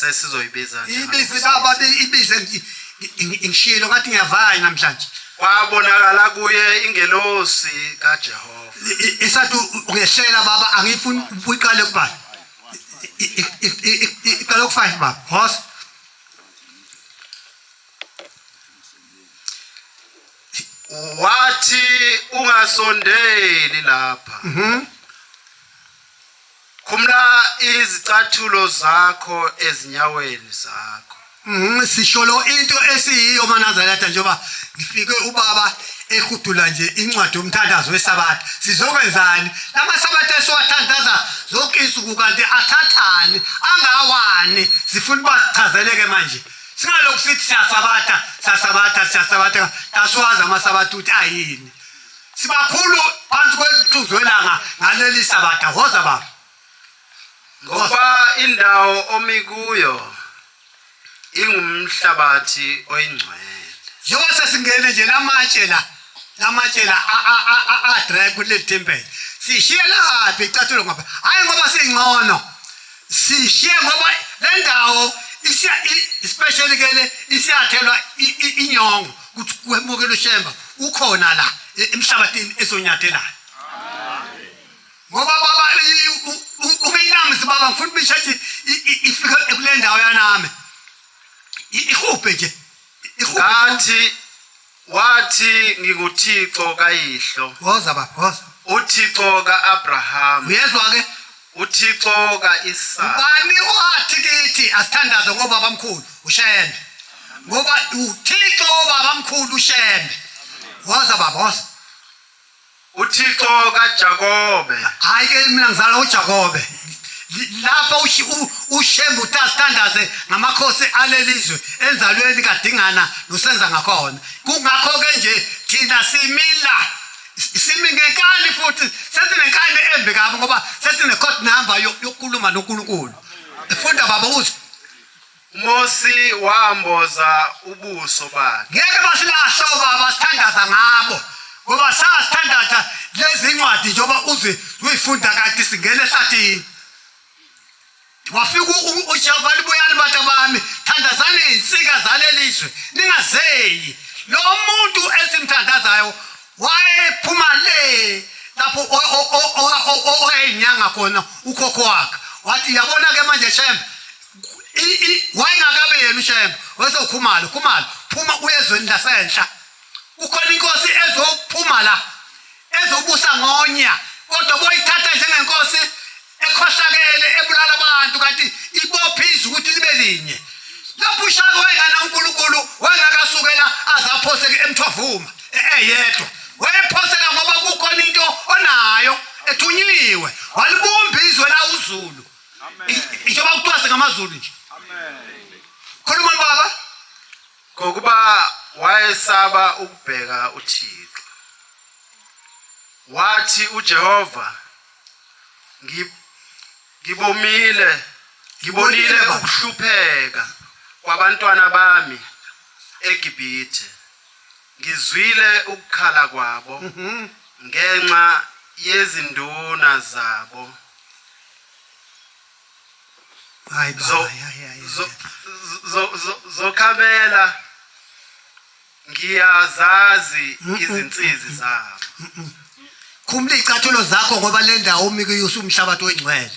sesizoyibiza ibize baba ibize ngishilo ngathi ngiyavaya namhlanje kwabonakala kuye ingelosi kaJehova esathi ungehlela baba angifuni uyiqale kubani iqale ku5 baba hos wathi ungasondeli lapha mhm. khumla izicathulo zakho ezinyaweni zakho mhm, sisholo into esiyiyo manazalata njengoba ngifike ubaba ehudula nje incwadi yomthandazo wesabatha sizokwenzani lama sabatha esiwathandaza zonke insuku kanti athathani angawani sifuna uba sichazeleke manje Singalokhu sithi siyasabatha, siyasabatha, siyasabatha, kasiwazi amasabatha ukuthi ayini. Sibakhulu phansi kwelithuzo elanga ngaleli sabatha, hoza baba. Ngoba indawo omi kuyo ingumhlabathi oyingcwele. Njengoba sesingene nje lamatshe la, lamatshe la a-dry kuleli thempeli. Sishiye laphi icathulo ngoba, hhayi ngoba singcono. sishiye ngoba le ndawo especially ke le isiyathelwa inyongo ukuthi kwemukelwe shemba ukhona la e, emhlabathini ezonyathelayo ngoba baba ubenamzi baba ngifuna ubisha ukuthi ifike kule ndawo yanami ihubhe nje ngathi Wathi, NginguThixo kayihlo. Woza baba, woza. UThixo ka-Abrahama. Uyezwa ke? UThixo ka-Isaka. Bani wathi kithi asithandaze ngobaba mkhulu uShembe? Ngoba uThixo wobaba mkhulu uShembe. Woza baba, woza. uthixo kajakobe hhayi ke mina ngizala ujakobe lapho ushembe utasithandaze ngamakhosi alelizwe enzalweni kadingana nosenza ngakhona kungakho ke nje thina simila simi ngenkani futhi sesinenkani embi kabi ngoba sesine-code number yokukhuluma nonkulunkulu funda baba uzwe Mosi wamboza ubuso bakhe. Ngeke basilahla obaba sithandaza ngabo ngoba sasithandaza lezi ncwadi njengoba uze uyifunda kade singena ehlathini wafika ujehova libuyani bantu bami thandazani izinsika zaleli zwe ningazeyi lo muntu esimthandazayo wayephuma le lapho owayeyinyanga khona ukhokho wakhe wathi yabona-ke manje shembe wayengakabe yena ushayembe wayezokhumala khumala phuma uyezweni lasenhla kukhona inkosi ezophuma la ezobusa ngonya kodwa boyithatha njengenkosi ekhohlakele ebulala abantu kanti ibophe izwi ukuthi libe linye lapho ushaka wayengana unkulunkulu wayengakasukela aze aphoseke emthwavuma eyedwa wayephoseka ngoba kukhona into onayo ethunyiwe walibumba izwe lawuzulu ngisho bakucwase ngamazulu nje khuluma baba ngokuba wayesaba ukubheka uthixo wathi ujehova ngibomile ngibonile ukuhlupheka kwabantwana bami egibhithe Ngizwile ukukhala kwabo ngenxa yezinduna zabo Hayi baba, Zo- ya, ya, ya, zo- ya. zo- zo- zokhamela ngiyazazi izinsizi zabo Khumula izicathulo zakho ngoba le ndawo umi kuyo usumhlabathi oyingcwele.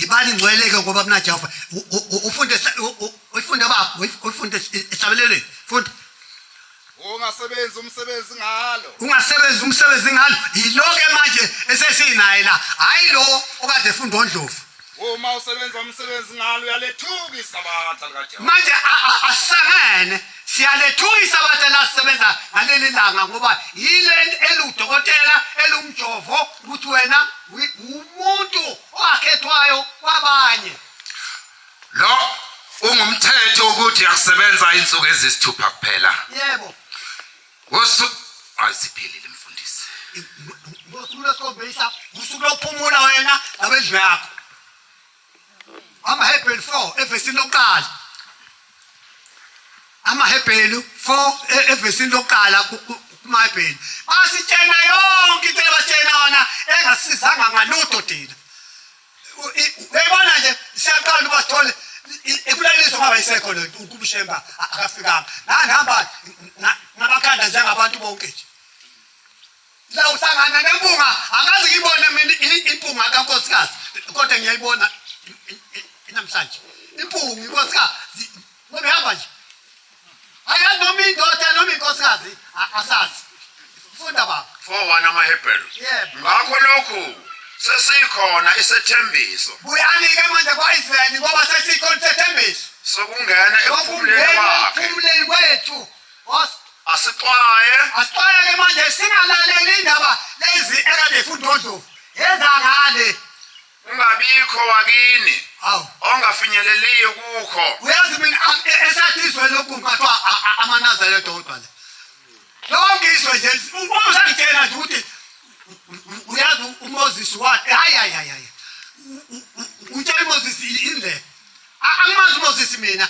Ibani ngcweleke ngoba mina Jehova u- u- u- ufunde sa- u- u- ufunde baba, ufunde esabelelweni. Funda. Ungasebenzi umsebenzi ngalo. Ungasebenzi umsebenzi ngalo. Yiloke manje esesinaye la. Hayi lo okade efunda oNdlovu. Uma usebenza umsebenzi ngalo uyalethuka isabatha likaJehova. Manje asangene siyalethuka isabatha lasisebenza ngaleli langa ngoba yile eludokotela elumjovo ukuthi wena umuntu owakhethwayo kwabanye. Lo ungumthetho ukuthi akusebenza insuku ezisithupha kuphela. Yebo. Ngosu aziphelile mfundisi. Ngosuku lesikhombisa usuku lokuphumula wena nabendlu yakho. AmaHebheri 4 evesini lokuqala. AmaHebheri 4 e-, evesini lokuqala kumaHebheri. Basitshena yonke into ebasitshena yona engasizanga ngalutho thina. Uyabona nje siyaqala uba sithole ikulaliswa ngaba isekho le nto ukumshemba akafikanga ngangihamba ngabakhanda njengabantu bonke nje la uhlangana nempunga angazi ngiyibone mina impunga kankosikazi kodwa ngiyayibona namhlanje impunga inkosikazi nobehamba nje Akazi noma indoda noma inkosikazi a- asazi. Funda baba. 4:1 amaHebheru. Yebo. Ngakho lokhu sesikhona isethembiso Buyani ke manje kwaIsrael ngoba sesikho isethembiso. sokungena ekuphumuleni Okungena kwakhe. ekuphumuleni kwethu. Os- Asixwaye Asixwaya ke manje singalaleli indaba lezi ekade ifundwa oDlovu. Yeza ngale. kungabikho wakini Hawu. ongafinyeleliyo kukho uyazi mina a- e- esathi izwe lokhu ngathiwa a- a- amanazare dodwa le lonke izwe nje uma usangitshela nje ukuthi u- u- uyazi u- umoses wathi hayi hayi hayi hayi U- u- u- utshela umoses indlela A- angimazi umoses mina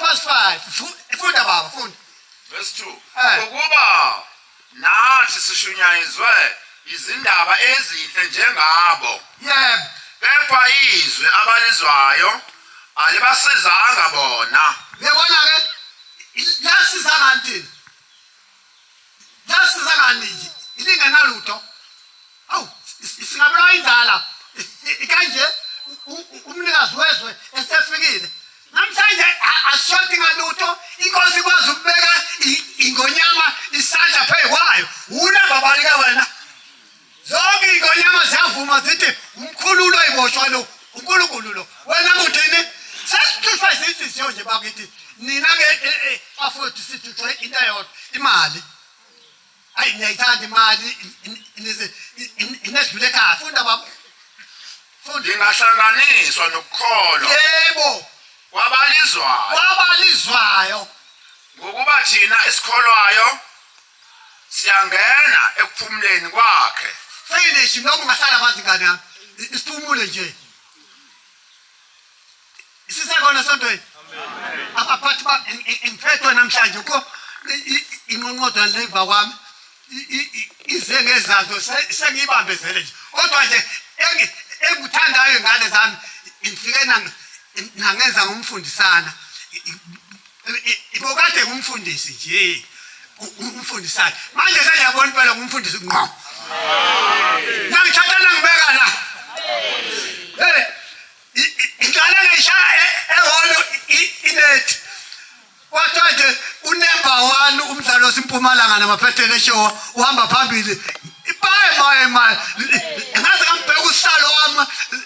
Past 5. Funda baba, funda. Verse 2. Eh. Ukuba nathi sishunyayizwe izindaba ezinhle njengabo. Yebo. Kepha izwi abalizwayo alibasizanga bona. Yabona ke lasiza kanti. Nalisizakani nje ilingenalutho. Awu singabulawa indlala ikanje umnikazi wezwe esefikile. Namhlanje ashoti ngalutho inkosi ikwazi ukubeka ingonyama isandla phezu kwayo. Wuna babalika wena. Zonke iy'ngonyama ziyavuma zithi umkhululo iboshwa lo unkulunkulu lo wena muthini sesithuthwa izinhliziyo nje bakithi nina-ke e, e, bafowethu sithuthwe into eyodwa imali ayi niyayithanda imali inesidlule ekhaya funda baba lingahlanganiswa nokukholwa yebo kwabalizwayo kwabalizwayo ngokuba thina esikholwayo siyangena ekuphumuleni kwakhe finish noma ungahlala phansi ngane yami isiphumule nje sisekhona sontweni abaphathi ba ngiphethwe namhlanje ko inqonqodwa leva kwami ize ngezazo sengiyibambezele nje kodwa nje engikuthandayo ngane zami ngifike nangenza ngomfundisana Ibokade kumfundisi nje. Umfundisana. Manje sengiyabona impela kumfundisi ngqo. Nangithatha nangibeka la. Eh. Ingane ngishaya e, eholo inet. Wathi nje unemba wani umdlalo simpumalanga namaphethele show uhamba phambili. Ipaye maye maye. Ngaze ngambheka usihlalo wami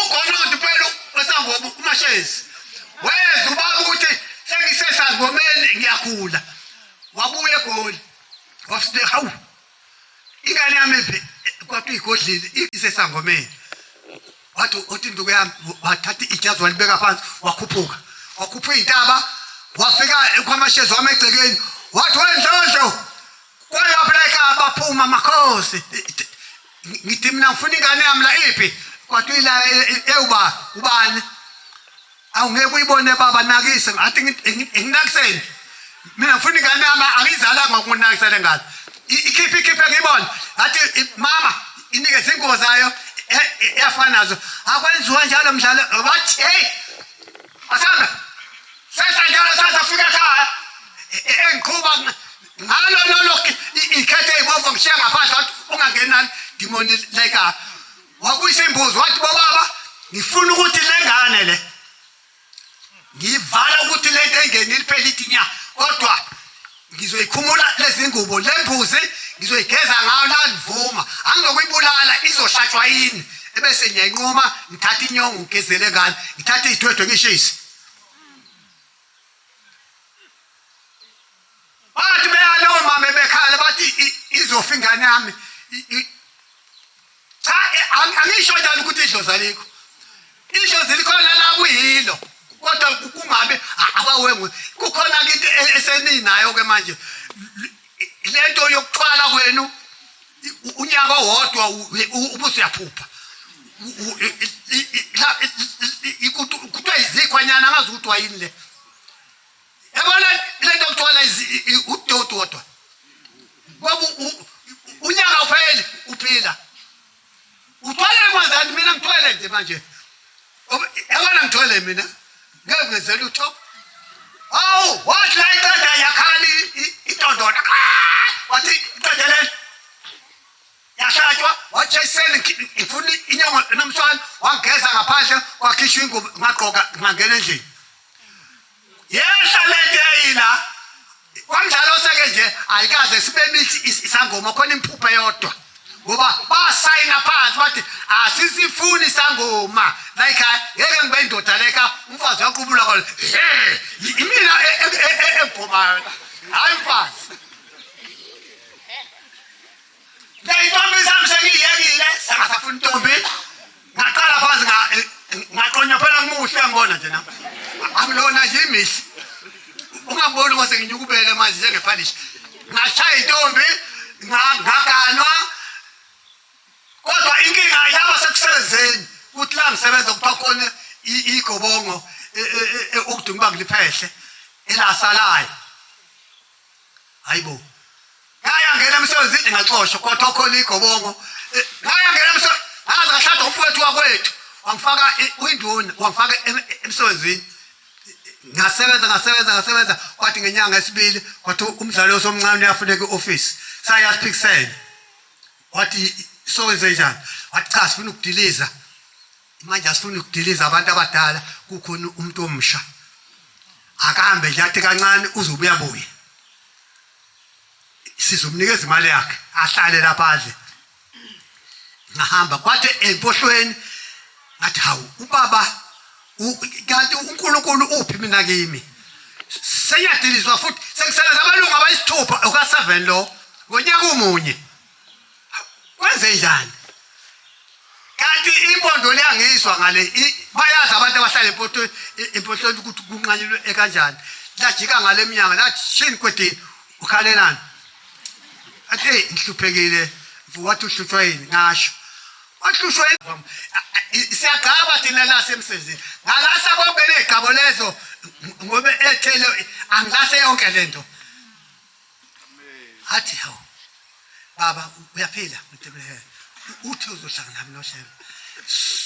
ugolodi kwelo kwesangoba umashezi weza ubaba ukuthi sengisesangomeni ngiyagula wabuya egoli wafike hawu ingane yami phi kwathi igodlile isesangomeni wathi uthi induku yami wathatha ijazi walibeka phansi wakhuphuka wakhupha iy'ntaba wafika kwamashezi wami egcekeni wathi wendlondlo kwayapha la ekhaya baphuma amakhosi ngithi mina ngifuna ingane yami la iphi kwathi uyila ewuba ubani awungeke uyibone baba nakise ngathi nginakiseni mina ngifuna ingane yami angiyizalanga ukunakisela ngane ikhiphe ikhiphe ngiyibone ngathi mama inike izingubo zayo eyafana nazo akwenziwa njalo mdlalo wathi hey asanda sehla njalo sasa fika ekhaya engiqhuba ngalo lolo ikhethe ibomvu ngishiya ngaphandle wathi ungangenani dimoni leka wabuyisa imbuzi wathi bobaba ngifuna ukuthi le ngane le ngivala ukuthi le nto engeni liphela ithi nya kodwa ngizoyikhumula lezi ngubo le mbuzi ngizoyigeza ngayo la ndivuma angizokuyibulala izohlatshwa yini ebese ngiyanquma ngithatha inyongo ngigezele ngalo ngithathe iy'thwethwe ngishise bathi beyale omama bekhala bathi izofa ingane yami cha angisho njalo ukuthi idlozi alikho idlozi likhona la kuyilo kodwa kungabe abawengu kukhona into e-, eseninayo ke manje lento yokuthwala kwenu unyaka owodwa ubuso uyaphupha kuthiwa yizikhwanyana angazi ukuthi wayini le Yabona le nto kuthiwa udoti wodwa ngoba unyaka upheli uphila uthwele kwenzani mina ngithwele nje manje yabona ngithwele mina ngeke ngenzela utho awu wathi la iqeda yakhali itondona wathi iqeda leli yahlatshwa wathi eseni ngifuna inyongo nomswana wangigeza ngaphandle wakhishwa ingubo ngagqoka ngangena endlini yehla lento eyila kwamdlalo oseke nje ayikaze sibe mithi isangoma khona imphuphe yodwa ngoba basayina phansi bathi asisifuni sangoma like ngeke ngibe indoda leka umfazi uyaqubula kona imina ebhomayo hayi mfazi Ngiyayibamba izamsha ngiyiyekile sengasafuna intombi. Ngaqala phansi nga ngaqonyophela ngimuhle ngibona nje nami. Akulona nje imihle. Ungaboni kwase nginyukubele manje njengepalishi. Ngashaya intombi ngaganwa kodwa inkinga yaba sekusebenzeni kuthi la ngisebenza kuthiwa khona igobongo e, e, e, ukuduma ibanga liphehle elasalayo hayibo ngayangena emsebenzini ngaxoshwa kwathokhola igobongo eh, ngayangena emsebenzini ngaze ngashada umfowethu wakwethu wangifaka uyinduna wangifaka emsebenzini ngasebenza ngasebenza ngasebenza kwathi ngenyanga esibili kwathi umdlalo osomncane uyafuneka i-ofisi sayaphikisela wathi sowenze njani wathi cha sifuna ukudiliza manje asifuni ukudiliza abantu abadala kukhona umuntu omsha akahambe nje athi kancane uzobuya buye sizomnikeza imali yakhe ahlale lapha adle ngahamba kwathi empohlweni ngathi hawu ubaba kanti uNkulunkulu uphi mina kimi seyadilizwa futhi sekusele abalungu abayisithupha uka7 lo ngonyaka omunye kwenze njani kanti impondo le angiyizwa ngale bayazi abantu abahlala empotweni empotweni ukuthi kunqanyelwe ekanjani lajika ngale mnyanga lathi shini kwedini ukhalelani athi eyi ngihluphekile wathi uhluthwa yini ngasho wahlushwa siyagcaba thina lasemsebenzini ngalasa konke ley'gcabo lezo ngobe ethele angilase yonke le nto athi hawu baba uyaphila mtebulehele uthi uzohlanga nami noshema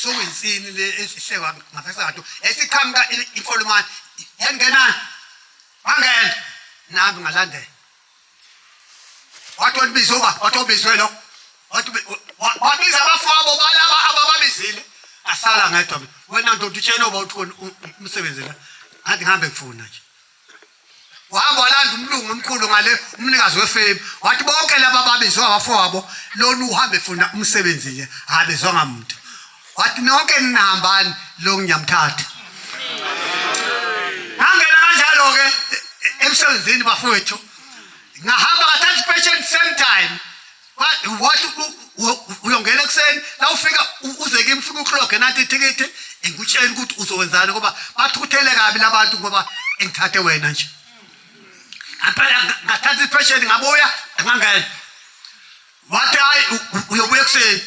soyinsini le esihlekwa ngafesato esiqhamuka imfolomane yangenani wangena nami ngalandela wathi olibiza uba wathi obizwe lo wabiza abafowabo balaba abababizile asala ngedwa wena ndoda utshela uba uthi umsebenzi la ngathi ngihambe ngifuna nje wahamba walanda umlungu omkhulu ngale umnikazi wefemu wathi bonke laba babizwe abafowabo lona uhambe funa umsebenzi nje abezwanga muntu wathi nonke ninahambani lo ngiyamthatha ngangena kanjalo-ke emsebenzini bafowethu ngahamba kathatha ipesheni same time wathi uyongena ekuseni la ufika uze kimi ufike ukloge nanti ithikithi ngikutshela ukuthi uzowenzani ngoba bathukuthele kabi labantu ngoba engithathe wena nje ngaphela ngathatha iphesheni ngabuya ngangena wathi hayi uyobuya ekuseni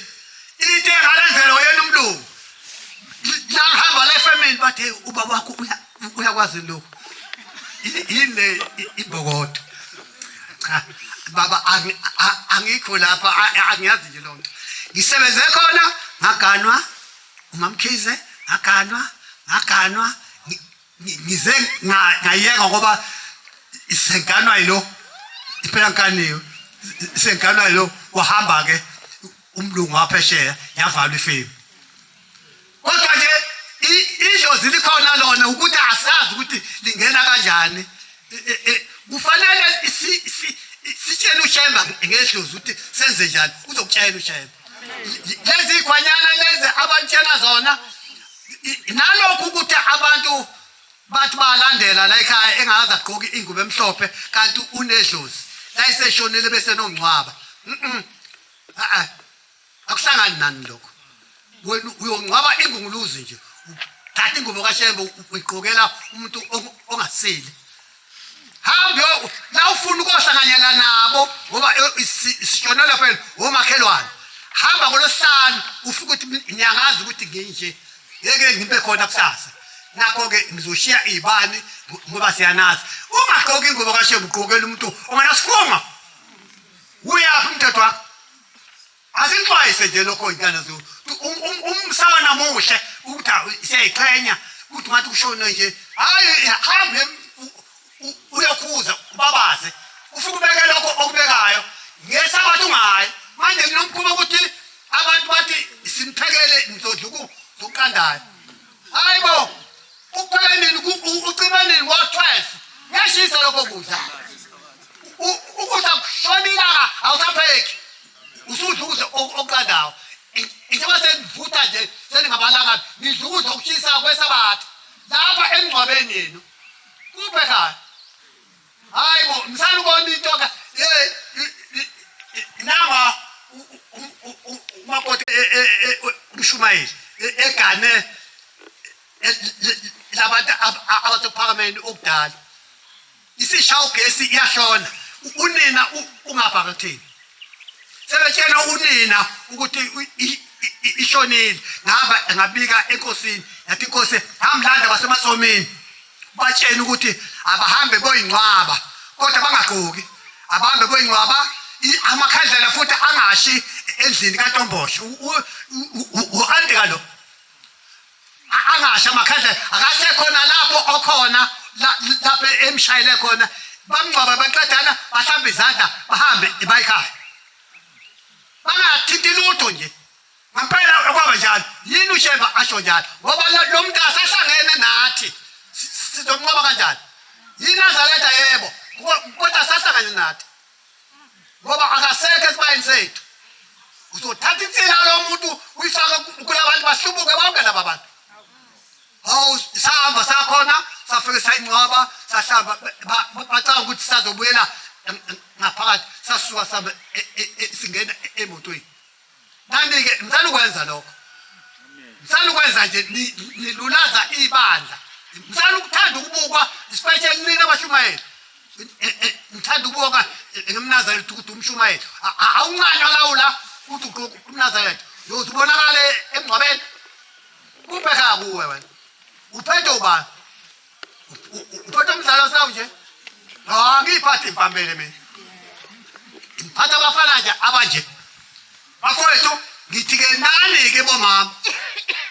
into engalendlela oyena umlungu langihamba la efemini bathe ubaba wakho uya uyakwazi lokhu yini le ibokodo cha baba angikho lapha angiyazi nje lonto ngisebenze khona ngaganwa umamkhize ngaganwa ngaganwa ngize ngayeka ngoba isenganwa yilo impela nkaniwe isenganwa yilo wahamba ke umlungu waphesheya yavalwa ifemu kodwa nje i- idlozi likhona lona ukuthi asazi ukuthi lingena kanjani E- e- e, kufanele si- si- sitshele ushemba ngedlozi ukuthi senze njani uzokutshela ushemba L- lezi yikhwanyana lezi abantshela zona i- nalokhu ukuthi abantu bathi balandela la ekhaya engakaze agqoke ingubo emhlophe kanti unedlozi la iseshonile bese nongcwaba Mhm. Ah, ah. akuhlangani nani lokho wena uyongcwaba ingunguluzi nje thatha ingubo kashembe uyiqokela umuntu ongasile hambe la ufuna ukohlanganyela nabo ngoba isishona lapho omakhelwane hamba ngolosihlanu ufike ukuthi ngiyangazi ukuthi nginje ngeke ngibe khona kusasa nakho-ke ngizoshiya iy'bani ngoba siyanazi ungagqoki ingubo kashembe ugqokela umuntu ongenasifunga uyaphi umthetho wakho asixwayise nje lokho ntana zulu um, um, umsana namuhle ukuthi siyayiqhenya ukuthi ngathi kushone nje hayi hambe uyokhuza ubabaze ufike ubeke lokho okubekayo ngesabathi ungayi manje kunomkhuba ukuthi abantu bathi simphekele nizodla ukuqandayo hayi bo uphela nini ucima nini ngo-twelve kuyashisa lokho kudla ukudla kushona ilanga awusapheki usudla ukudla okuqandawo njengoba senivutha nje seningabalanga nidla ukudla okushisa kwesabatha lapha emngcwabeni yenu kuphe kani Hayi bo, ngisanda ukubona into ka ye nama umakoti e, e, e, umshumayeli egane labantu abathophakameni okudala. Isishawu gesi iyahlona. Unina ungapha ngathini? Sebetshena unina ukuthi ishonile ngaba ngabika enkosini yathi inkosi hamlanda basemasomini batsheni ukuthi abahambe boyingcwaba kodwa bangagqoki abahambe boyingcwaba amakhandlela futhi angashi endlini kantombosho u-ante kalo angashi amakhandlela akasekhona lapho okhona lapho emshayele khona bamngcwaba baqedana bahlambe izandla bahambe bayikhaya bangathinti lutho nje Ngampela kwaba njalo. Yini uShemba asho njalo? Ngoba lo lo muntu asahlangene nathi. Si- si- Sizomnqoba kanjani? YiNazaretha yebo. Ko- Kodwa asahlangene nathi. Ngoba akasekho esibayeni sethu. Uzothatha insila lo muntu uyifake ku- kulabantu bahlubuke bonke laba bantu. Hawu sahamba sakhona safike sayinqoba sahlaba ba- ba- bacanga ukuthi sazobuyela em- em- ngaphakathi sasuka sabe e- e- e- singena e- emotweni. Kanti-ke ngicela ukwenza lokho, ngicela ukwenza nje nilulaza ibandla, ngicela ukuthanda ukubukwa isipeshe kunina abashumayeli ngithanda ukubonga ngimnazaretha ukuthi umshumayeli awuncanywa lawula ukuthi ugqoke umnazaretha yoze ubonakale emngcwabeni kubheka kuwe wena uphethe ubani Mtoto mzalo sawa uje. Na ngi pati pambele me. Hata bafana aja abaje. Bakole tu ngitige nani ke boma.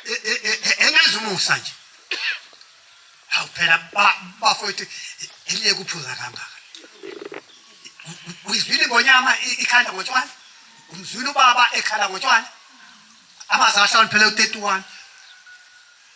E, e, e, Engazi umusa nje. Hawu phela bafowethu eliye kuphuza kangaka. Uyizwile ngonyama ikhanda ngotshwala? Umzwile ubaba ekhala ngotshwala? Abazali ahloniphele u-31.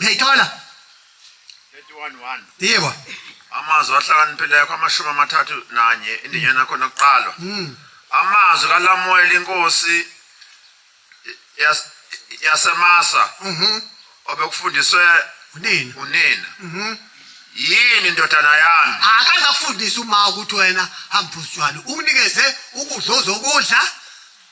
uyayithola yebo amazwi ahlakaniphileko amashumi amathathu nanye indinyana yakho nokuqalwa hmm. amazwi kalamuwela inkosi yasemasa mhm. obekufundiswe unina unina mhm. yini ndodana yami akazakufundisa uma ukuthi wena hambuzijwalo ukunikeze ukudla ozokudla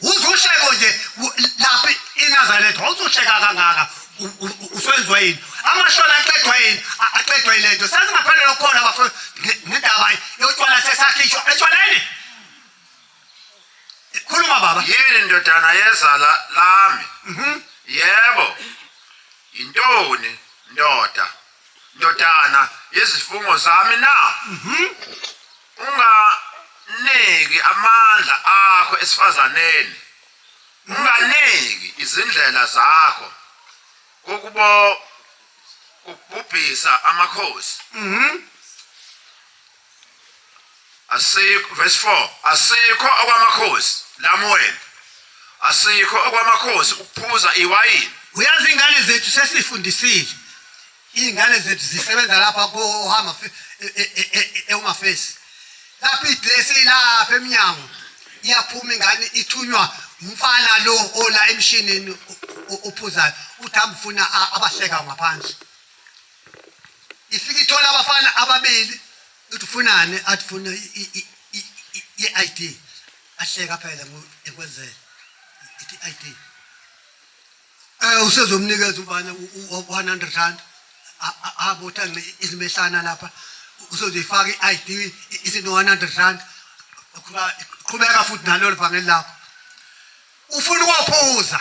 uzohleko nje lapha inazaretha wawuzohleka kangaka uswenziwa yini amashona aqedwa yini aqedwa yile nto sasingaphandle lokukhona bafo nendaba yotshwala sesakhishwa etshwaleni khuluma baba yini ndodana yezala lami mhm. yebo yintoni ndoda ndodana yezifungo zami na mhm. unganeki amandla akho esifazaneni unganeki izindlela zakho kokubo kubhubhisa amakhosi mhm. asikho verse 4 asikho okwamakhosi lamuwena asikho okwamakhosi ukuphuza iwayini uyazi ingane zethu sesifundisile iy'ngane zethu zisebenza lapha kohama eumafesi e, e, e, lapho idresi ilapha emnyango iyaphuma ingane ithunywa umfana lo ola emshinini ophuzayo uthi ambufuna abahleka ngaphansi ifike ithola abafana ababili uthi ufunani athi funa i-ID ahleka phela ekwenzela ithi i-ID eh usezomnikeza ubani u-100 rand abotha izimehlana lapha usozoyifaka i-ID isino 100 rand qhubeka futhi nalolu vangeli lakho ufuna ukophuza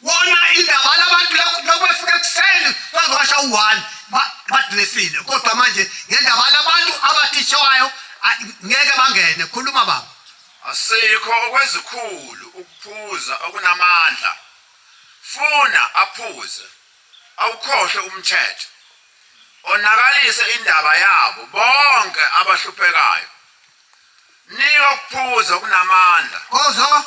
Wona indaba labantu lokwefuka ekuseni bazowasha u-one badresile kodwa manje ngendaba labantu abathishayo ngeke bangene khuluma baba asikho okwezikhulu ukuphuza okunamandla funa aphuze awukhohle umthetho onakalise indaba yabo bonke abahluphekayo Nika ukuphuza okunamandla. Kozo.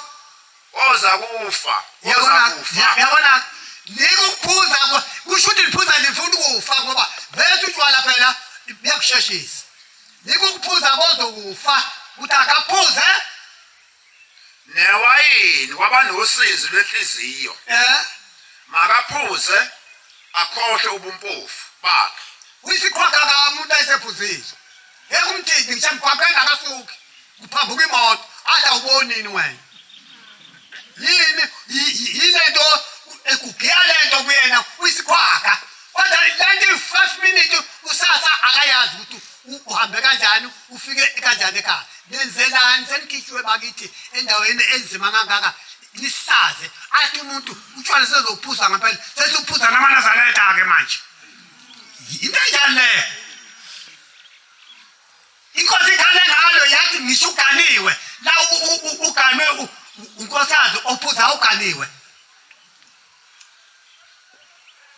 Oza kufa. Oza kufa. Yabona. Nika ukuphuza kusho ukuthi liphuza lifuna ukufa ngoba vese utshwala phela liyakusheshisa. Nika ukuphuza kozokufa ukuthi akaphuze newayini waba nosizi lwenhliziyo Eh? makaphuze akhohlwe ubumpofu bakhe Uyisiqhwaga ka umuntu ayisephuzile. Yeka umthithi ngisho emgwaqeni akasuki. Kuphambuka imoto. Adla ubonini wena. Yini yi- yi- yilento ekugiya lento kuyena uyisiqhwaga. Kodwa lento 5 minutes usasa akayazi ukuthi uhambe kanjani ufike kanjani ekhaya nenzelani senikhitshiwe bakithi endaweni enzima kangaka nisaze athi umuntu utshwala sezophuza ngempela sesuphuza namanazaleta-ke manje into enjani leyo inkosi ikhale ngalo yathi ngisho uganiwe la uganwe unkosazi ophuza uganiwe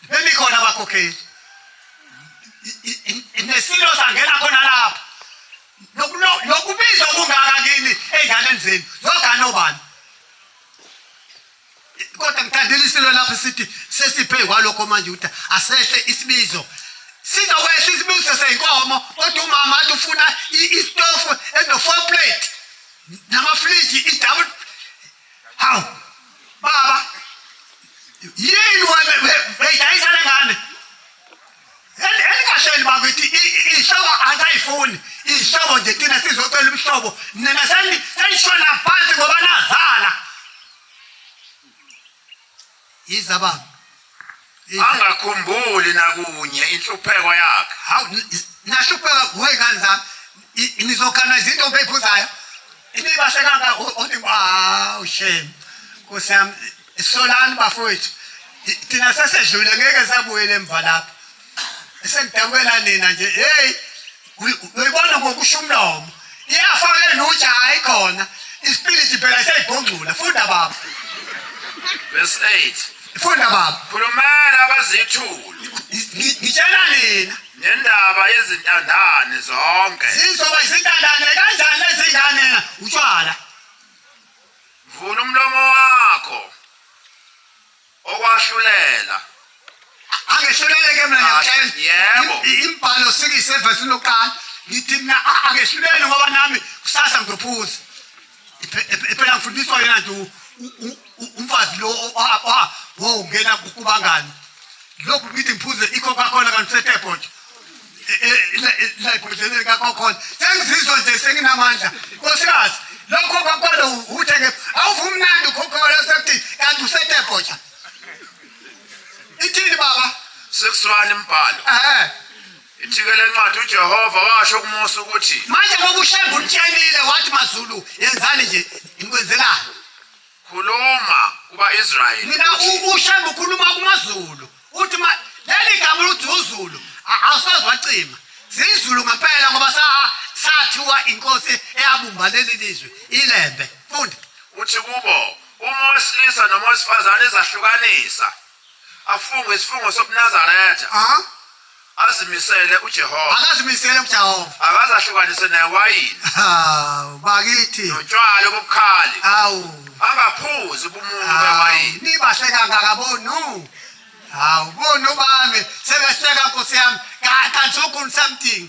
Bemi khona abakhokheli. Nesilo sangena khona lapha. Lokubizwa kungaka kini ey'nganeni zenu. Zogana obani? Kodwa ngithandile isilo lapho sithi sesiphe kwalokho manje ukuthi asehle isibizo sizokwehla isibizo seyinkomo kodwa umama athi ufuna istofu eno-four plate namafriji i-double Hawu. Baba. Yini wena beyidayisa lengane? Elikahleli bakithi ihlobo asayifuni. Ihlobo nje thina sizocela umhlobo. Nina seni senishona phansi ngoba nazala. Yiza baba. Angakhumbuli nakunye inhlupheko yakhe. Hawu nahlupheka kuwe kanza nizokana izinto ngeyiphuzayo. Imibahle kanga uthi wow shame. Kusiyami solani bafowethu. Thina sesedlule ngeke sabuyela emva lapho. sengidabukela nina nje hey uyibona ngokusho umlomo iyafana lenutha hayi khona isipiliti phela seyibhongcula funda baba verse 8 funda baba khulumela abazithulu ngitshela nina nendaba yezintandane zonke zizoba izintandane kanjani ezingane utshwala vula umlomo wakho okwahlulela angehlulele ke mina ngiyamtshela yebo imbhalo sikise evesini lokuqala ngithi mina angehlulele ngoba nami kusasa ngizophuza phela ngifundiswa yena nje umfazi lo wongena kubangani lokhu ngithi ngiphuze ikho kakhona kanti setepho nje ibhodleleni kakokhona sengizizwa nje senginamandla nkosikazi lokho kwakwalo uthe ke awuvumnandi ukhokhona sekuthi kanti usetebhoja ithini baba sekusilwane imbhalo eh ithike lencwadi uJehova washo kuMose ukuthi manje ngokushemba utshelile wathi mazulu yenzani nje ngikwenzelani Khuluma kuba Israel. Mina uShembe ukhuluma kumaZulu. Uthi ma leli gama ukuthi uZulu awusoze wacima. ZiZulu ngempela ngoba sa sathiwa inkosi eyabumba leli lizwe iLembe. Funda. Uthi kubo uma owesilisa noma owesifazane ezahlukanisa afunge isifungo sobunazaretha Aha. azimisele ujehova Akazimisele kuJehova. akaze ahlukanise newayini Hawu bakithi. notshwala obubukhali Hawu. angaphuzi ubumuncu Hawu, bewayini Nibahle kangaka bonu. Hawu bonu bami sebehleka Nkosi yami. Kanti ukhulu something.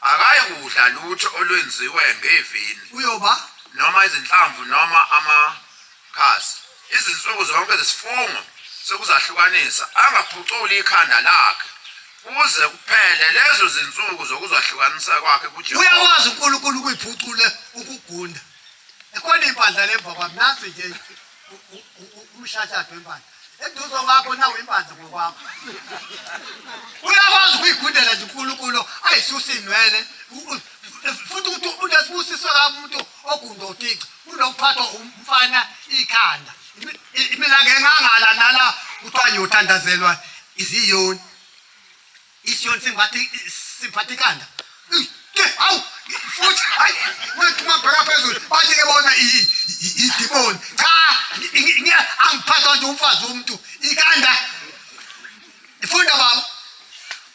Akayikudla lutho olwenziwe ngevini. Uyoba noma izinhlamvu noma amakhasi. Izinsuku zonke zesifungo sokuzahlukanisa, angaphuculi ikhanda lakhe kuze kuphele lezo zinsuku zokuzahlukanisa kwakhe kuJehova. Uyakwazi uNkulunkulu ukuyiphucula ukugunda. Ekhona impandla le mva kwami, nansi nje. umshashado wempandla eduze kwakho nawo impandla ngokwakho uyakwazi ukuyigudela nje unkulunkulu ayisusa inwele futhi ukuthi unesibusiso kabi umuntu ogunda utica unokuphathwa umfana ikhanda imilanga engangala nala kuthiwa ngiyothandazelwa iziyoni Isiyon simbathi siphathi kanda. Awu futhi hayi mabheka phezulu bathi ke bona idimoni. Cha ngiya angiphathwa nje umfazi womuntu ikanda. Ifunda baba.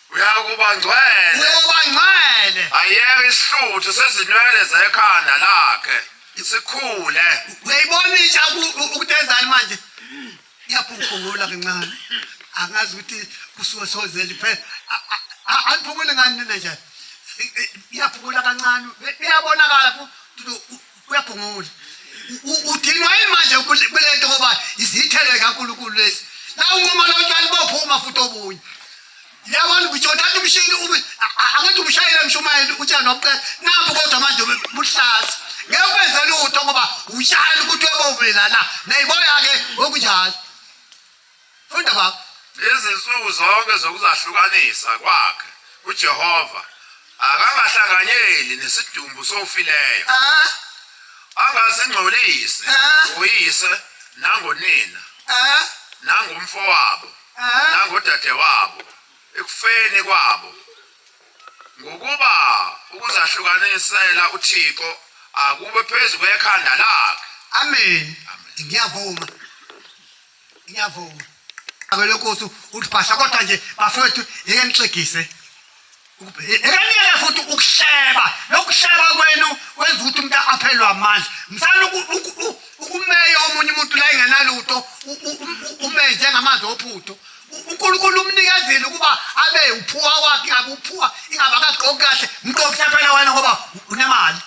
Uyakuba ngcwele. Uyakuba ngcwele. Ayeke isihluthu sezinwele zekhanda lakhe. Isikhule. Uyayibona intsha ukutenzani manje? Ngiyaphungula kancane. Angazi ukuthi kusuke sozeli phela. Aliphungule ngani nina nje? Ngiyaphungula kancane. Uyabonakala futhi uyaphungula. Udinwa yini manje kulento ngoba izithele kaNkulunkulu lesi. Nawu uma lotshwala bophuma futhi obunye. Yabona ukuthi uthatha umshini ube akantu umshayela umshumayeli utshani wabuqeda nabu kodwa manje buhlaza. Ngeke kwenze lutho ngoba utshani ukuthi webobelana nayiboya ke okunjalo. Funda baba. Izinsuku zonke zokuzahlukanisa kwakhe uJehova akangahlanganyeli nesidumbu sofileyo. Ah. Angasingcolisi ah. uyise nangonina. Ah. Nangumfowabo. nangodadewabo ekufeni kwabo ngokuba ukuzahlukanisela uthixo akube phezu kwekhanda lakhe amen ngiyavuma ngiyavuma abelokosi uthi bhasha kodwa nje bafowethu yeke nixegise Ngiyanika futhi ukusheba lokusheba kwenu kwenza ukuthi umuntu aphelwe amandla msana ukumeya omunye umuntu la engenalutho umenze ngamanzi ophutho unkulunkulu umnikezile ukuba abe uphuwa wakhe ingabe uphuwa ingabe akagqoki kahle mqokisa phela wena ngoba unemali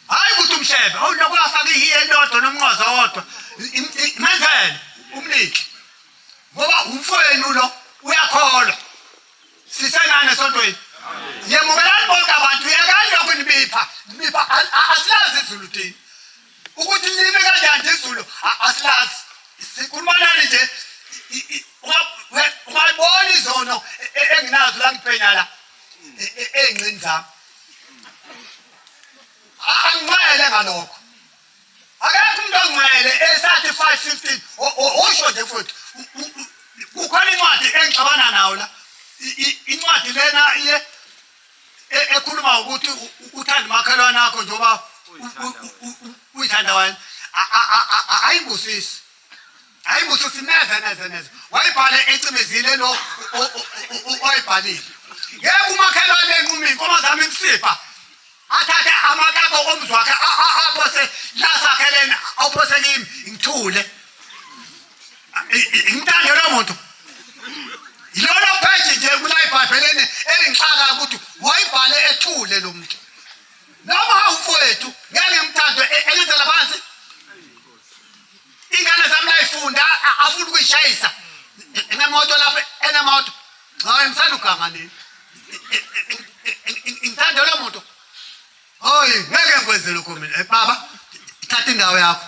hhayi ukuthi umshebe awulokhu afake ihiye elodwa nomnqoza wodwa menzele umnike ngoba umfowenu lo uyakholwa sisenani esontweni ngiyamukelani bonke abantu yekani lokhu nibipha nibipha asilazi izulu thina ukuthi libe kanjani izulu asilazi sikhuluma nani nje ungayibona izono e, e, enginazo la ngiphenya la e, ey'nqini zami anginqwele ngalokho akekho umuntu ongcwele esathi 515 osho nje futhi kukhona incwadi engixabana nawo la incwadi lena iye e, ekhuluma ukuthi uthanda umakhelwane akho njengoba uyithanda wena ayingusisi hayi ukuthi uthi neze neze neze wayibhale ecimezile lo oyibhalile ngeke umakhelwane enquma iy'nkomo zami imsipha athathe amakako omzwakhe aphose la sakheleni awuphose kimi ngithule ngimthande lo muntu yilona pheji nje kula ibhayibheleni elingixaka ukuthi wayibhale ethule lo muntu noma awumfowethu ngeke ngimthande e-, elenzela phansi ingane zami layifunda afuna ukuyishayisa enemoto lapho enemoto hayi msanda uganga nini ngithanda lo muntu hoyi ngeke ngikwenze lokho mina eh, baba thatha indawo yakho